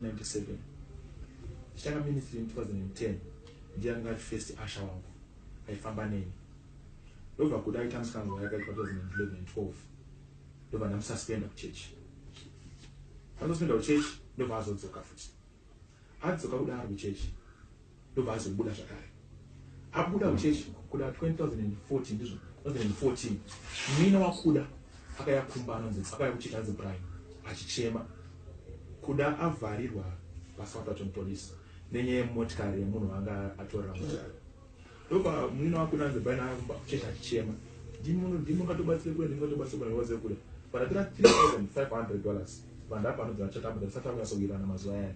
1997 ndichitanga ministry in 2010 ndiye anga ari first usher wangu aifamba neni ndobva kuda aita musikanzwa yakaitwa 2011 ndobva ndamususpenda kuchurch andospenda kuchurch ndobva azodzoka futi adzoka kudaro kuchurch ndobva azobuda zvakare abuda muchechi kuda 2014 ndizvo 2014 mina wakuda akaya kumba anonzi akaya kuchechi anzi brian achichema kuda avharirwa pasouthton police nenyaya yemotikari yemunhu anga atorera motikari ndobva muina wakuda anzi brian aya kumba kuchechi achichema ndimungatobatsire kule ndimungatobatsire kule ndiwaze kule but atira 3500 dollars vandapa anodzana chatambudza tisati akunyasowirana mazuva ayani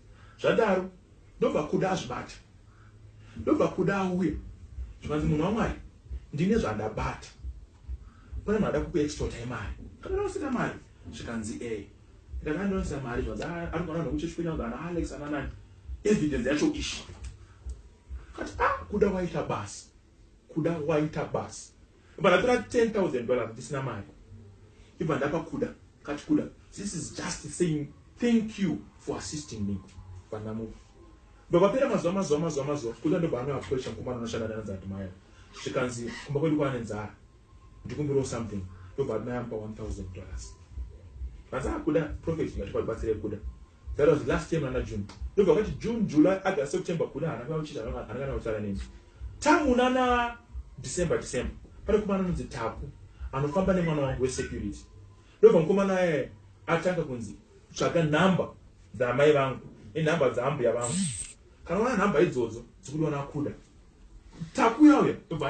zvadaro ndobva kuda azvibata ndobva kuda auya zvikanzi munhu wamwari ndine zvandabata pane munhu ada kukuextorta imari ndakanonosira mari zvikanzi e eh. ndakanonosira mari zvanzi ah, ari kuana nokuchechi kuenda kuti ana alex ananani evidence yacho ishi kati a ah, kuda waita basa Kuda waita basa ibva ndatora 10000 dollars ndisina mari ibva ndapa kuda kati kuda this is just saying thank you for assisting me ibva ndamupa ibva papera mazuva mazuva mazuva mazuva kuda ndobva anga approacha mukomana anoshanda nana dzadmaya zvikanzi kumba kwedu kwaane nzara ndikumbirawo something ndobva admaya amupa 1000 dollars vanzi akuda ah, profet ngatikwatibatsire kuda That was last year muna June. Ndobva kwati June, July, August, September kuna hana kana uchita hana kana kutaura neni. Tangu nana December, December. Pane kumana nunzi Taku. Anofamba nemwana wangu we security. Ndobva mkoma naye atanga kunzi tsvaga number dza mai vangu. E number dza ambuya vangu. Kana wana number idzodzo dzikudiwa nakuda. Taku yauya. Ndobva